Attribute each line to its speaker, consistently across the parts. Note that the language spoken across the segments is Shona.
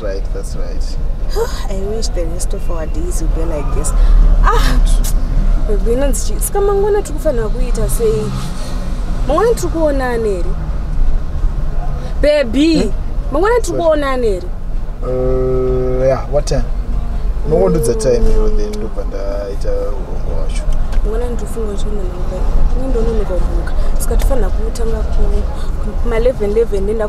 Speaker 1: right,
Speaker 2: that's right. I wish the rest of our days would be like this. Ah, baby, inonzi chii? Saka mangwana tiri kufanira kuita sei? Mangwana tiri kuonana here? Baby, hmm? mangwana tiri kuonana here? Uh,
Speaker 1: yeah, what time? Mongondudza time iwe then ndobva ndaita urongwa wacho. Mangwana ndinofunga
Speaker 2: kuti mwana wangu. Ini ndononoka kubuka. Saka tofanira kutanga kuma 11 11 nenda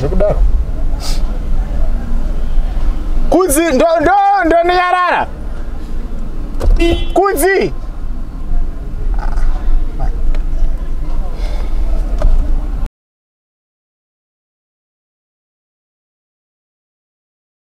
Speaker 1: zvekudaro kudzi ndoniyarara kudzi